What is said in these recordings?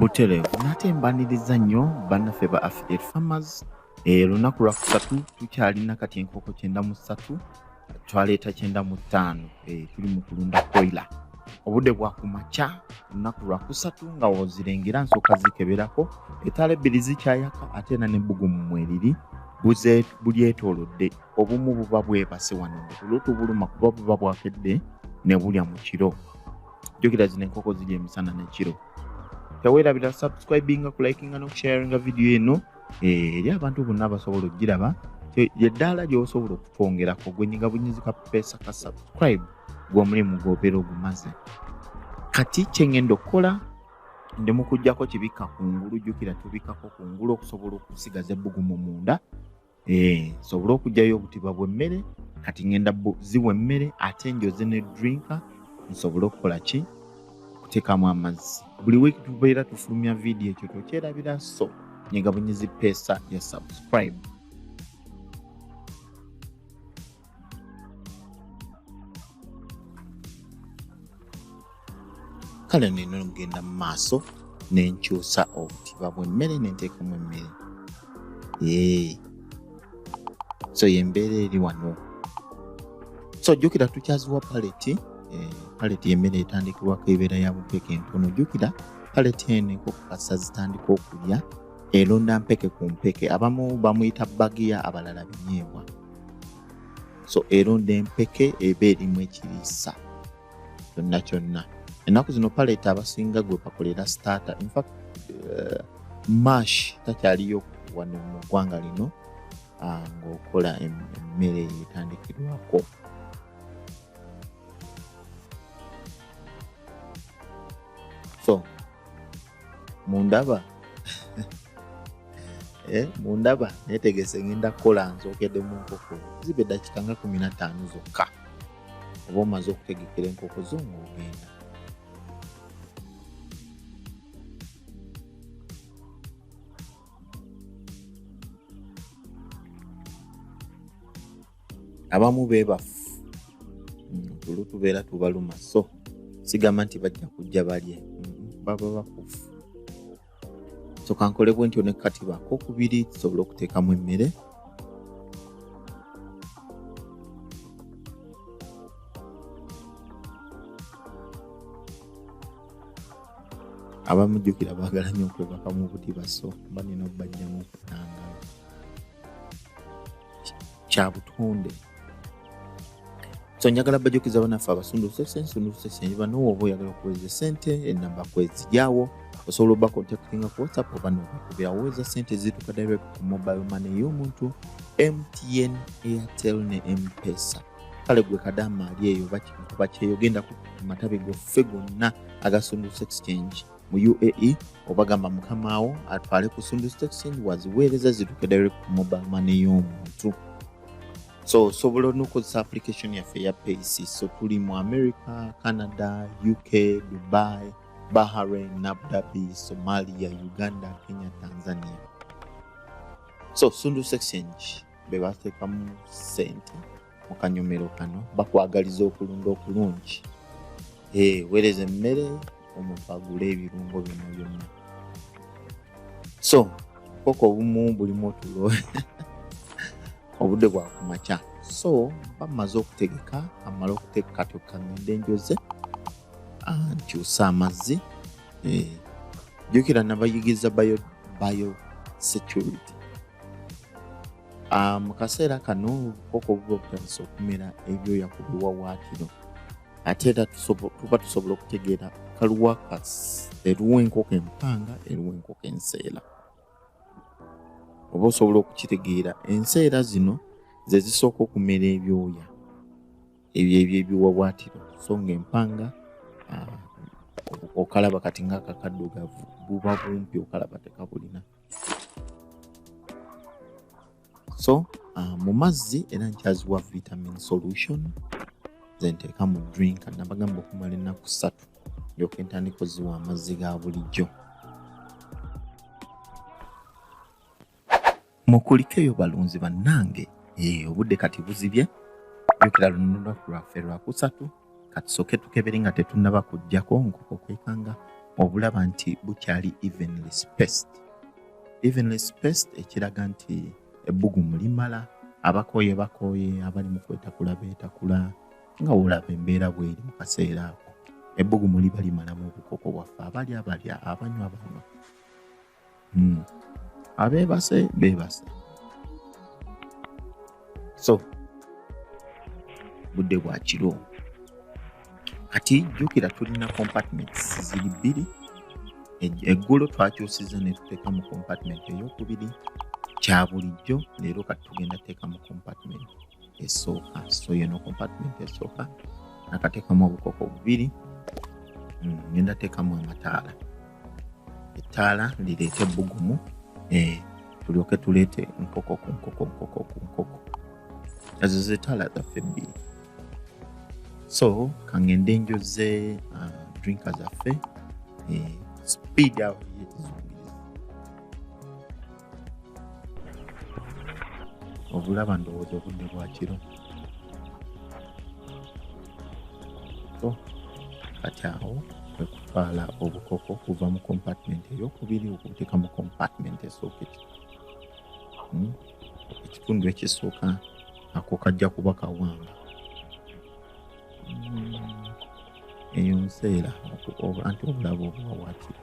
butereevu nate mbaniriza nnyo bannaffe ba affidate farmers eh, olunaku lwa kusatu tukyalina kati enkoko kyenda mu ssatu twaleeta kyenda mu ttaano eh, tuli mu kulunda koila obudde bwa ku makya olunaku lwa kusatu nga wozirengera nsooka zikeberako etaala ebbiri zikyayaka ate era n'ebbugumu mweriri bulyetoolodde obumu buba bwebase wano nga tulu tubuluma kuba buba bwakedde ne bulya mu kiro jukira zino enkoko ziri emisana nekiro tewerabira subscribinga kulikinga nokusharinga vidiyo eno eh, eri abantu bonna abasobola okugiraba eddaala gyosobola okutwongerako gwenyiga bunyizi ka pesa ka subscribe gwomulimu gwobeera ogumaze kati kyengenda okukola ndi mukujjako kibikka kungulu jukira tubikako kungulu okusobola okusigaza ebbugumu munda Eh, nsobole okugyayo obutiba bwemmere kati ngenda ziwa emmere ate njoze ne drinka nsobole okukola ki okuteekamu amazzi buli week tubeera tufulumya vidiyo ekyo tokyerabira so nyegabunyizi peesa ya subscribe kale nina okugenda mu maaso nenkyusa obutiba bwemmere nenteekamu emmere so yembeera eri wano so jjukira tukyaziwa paleti eh, paleti yemmere etandikirwako ebeera ya bumpeke entono jjukira paleti eno enkokukasa zitandika okulya elonda mpeke ku mpeke abamu bamuyita bagiya abalala binyeebwa so eronda empeke eba erimu ekiriisa kyonna kyonna ennaku zino paleta abasinga gwe bakolera stata infact eh, mash takyaliyo wano mu ggwanga lino ah, ngaokola emmere etandikirwako so mundaba eh, mundaba netegese ngenda kukola nzogede mu nkoko ziba eddakika nga kumi na ttaano zokka oba omaze okutegekera enkoko zo ngaogenda abamu bebafu tulu mm, tubeera tubaluma so sigamba nti bajja kujja balye mm, baba bakufu so kankole bwe ntyo nekati bako kubiri tusobole okuteekamu emmere abamujjukira baagala nyo okwebaka mu buti baso mba nina okubajjamu okutanga kya butonde so njagala bajukiza banaffe abasundusese nsundusese banowa oba oyagala okuweza sente enamba kwezigyawo osobola oba contactinga ku whatsapp oba nokakubira weza sente zituka direct ku mobile money y'omuntu mtn airtel ne mpesa kale gwe kadaama ali eyo bakikuba kyeyo genda ku matabi goffe gonna agasunduse exchange mu uae obagamba mukamaawo atwale ku sundu stock send waziweereza zituke direct ku mobile money y'omuntu so osobola nokozesa application yaffe ya pac so tuli mu america canada uk dubai bahrain nabdabi somalia uganda kenya tanzania so sundu exchange bebateekamu sente mu kanyomero kano bakwagaliza okulunda okulungi eh, weereza emmere omupagule ebirungo bino byonna so koko obumu bulimu otulo obudde bwakumakya so bamaze okutegeka amala okutegeka tokangende enjoze ah, nkyusa amazzi eh, jukira nabayigiriza bayo bayo security Ah, mu kaseera kano koko buba obutandisa okumera ebyoya ku biwawaatiro ate era tuba tusobola okutegeera kaluwa eruwa enkoko empanga eruwa enkoko enseera oba osobola okukitegeera enseera zino ze zisooka okumera ebyoya ebyo ebyo ebiwawaatiro so nga empanga ah, okalaba kati ngaakakaddugavu buba bumpi okalaba tekabulina so uh, mu mazzi era nkyaziwa vitamin solution zenteeka mu drink nabagamba okumala ennaku ssatu ndyoka entandika oziwa amazzi ga bulijjo mukulikeyo balunzi bannange eh, obudde kati buzibye jukira luno lwaffe lwakusatu katusoke tukebere nga tetunaba kujjako nkoko kwekanga obulaba nti bukyali evenly spaced evenly spaced ekiraga nti ebbugumu limala abakooye bakooye abali mu kwetakula beetakula nga wolaba embeera bweri mu kaseera ako ebbugumu liba limalamu obukoko bwaffe abalya abalya abanywa abanywa hmm. abeebase beebase so budde bwa kiro kati jjukira tulina compartments ziri bbiri eggulo twakyusiza ne tuteeka mu compartment eyokubiri kya bulijjo leero kati tugenda teeka mu compartment esooka so yeno compartment esooka nakatekamu obukoko bubiri mm, ngenda tekamu amataala ettaala ndireete ebbugumu eh, tulyoke tuleete nkoko ku nkoko nkoko ku nkoko ezo zetaala zaffe ebbiri so kangende njoze uh, drinka zaffe eh, speed out obulaba ndowooza obudde bwa kiro oh, kati awo kwekutwala obukoko okuva mu compartment eyokubiri okubuteeka mu compartment esooka hmm? ekitundu ekisooka ako kajja kuba kawanga hmm. eyo nseera anti obulaba obuwawakira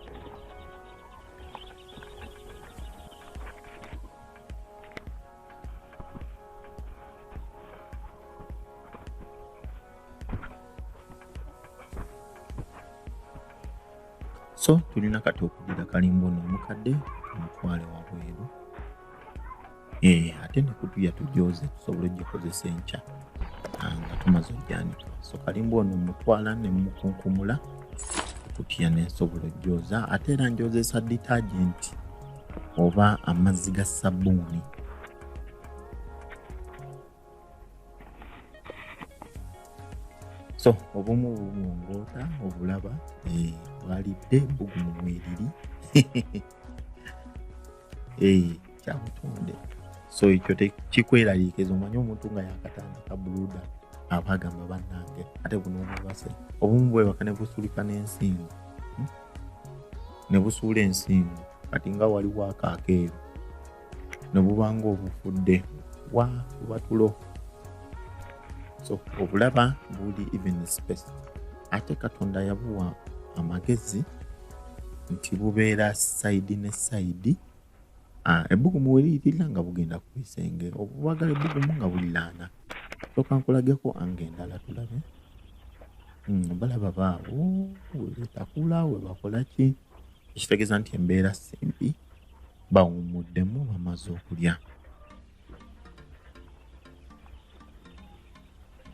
so tulina kati okudira kalimba ono omukadde omutwale wabweru eh, ate nekutu yatujooze tusobola ogikozesa enkya ah, nga tumaze ojjanika so kalimba ono mutwala nemukunkumula kutya nensobola ojooza ate era njozesa detergent oba amazzi ga sabuuni so obumu bubungoota obulaba eh, bwalidde bugumu mweriri kyabutonde so ekyo kikweraliikiriza omanye omuntu nga yakatandika buluda aba agamba bannange ate buno obubase obumu bwebaka ne busulika n'ensingo hmm? ne busuula ensingo kati nga waliwo akaakeeru ne bubanga obufudde wa bubatulo so obulaba buli even space ate katonda yabuwa amagezi nti bubeera saidi ne saidi ah, ebbugumu weliyitirira nga bugenda ku bisenge obubagala ebbugumu nga bulilaana soka nkulageko anga endala tulabe hmm, balaba baawo wetakula webakolaki ekitegeeza nti embeera simbi bawumuddemu bamaze okulya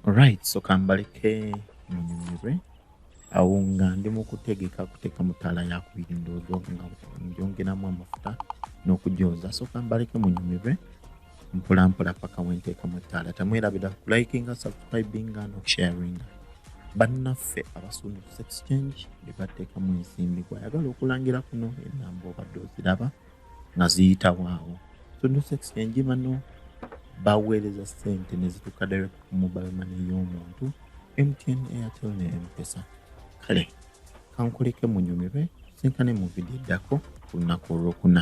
Alright, so kambaleke munyumirwe awo nga ndi mu kutegeka kuteeka mu ttaala yakubiri ndoozo nga njongeramu amafuta n'okugyoza so kambaleke munyumirwe mpolampola paka wenteekamu ettaala tamwerabira kulikinga subscribinga nokusharinga bannaffe abasuumu ku exchange bebateekamu ensimbi gwayagala okulangira kuno enamba obadde oziraba nga ziyitawo awo exchange bano baweereza sente nezituuka direct ku mobile money y'omuntu mtn airtel ne mpesa kale kankuleke munyumirwe sinkane mu vidiyo eddako ku lunaku olwokuna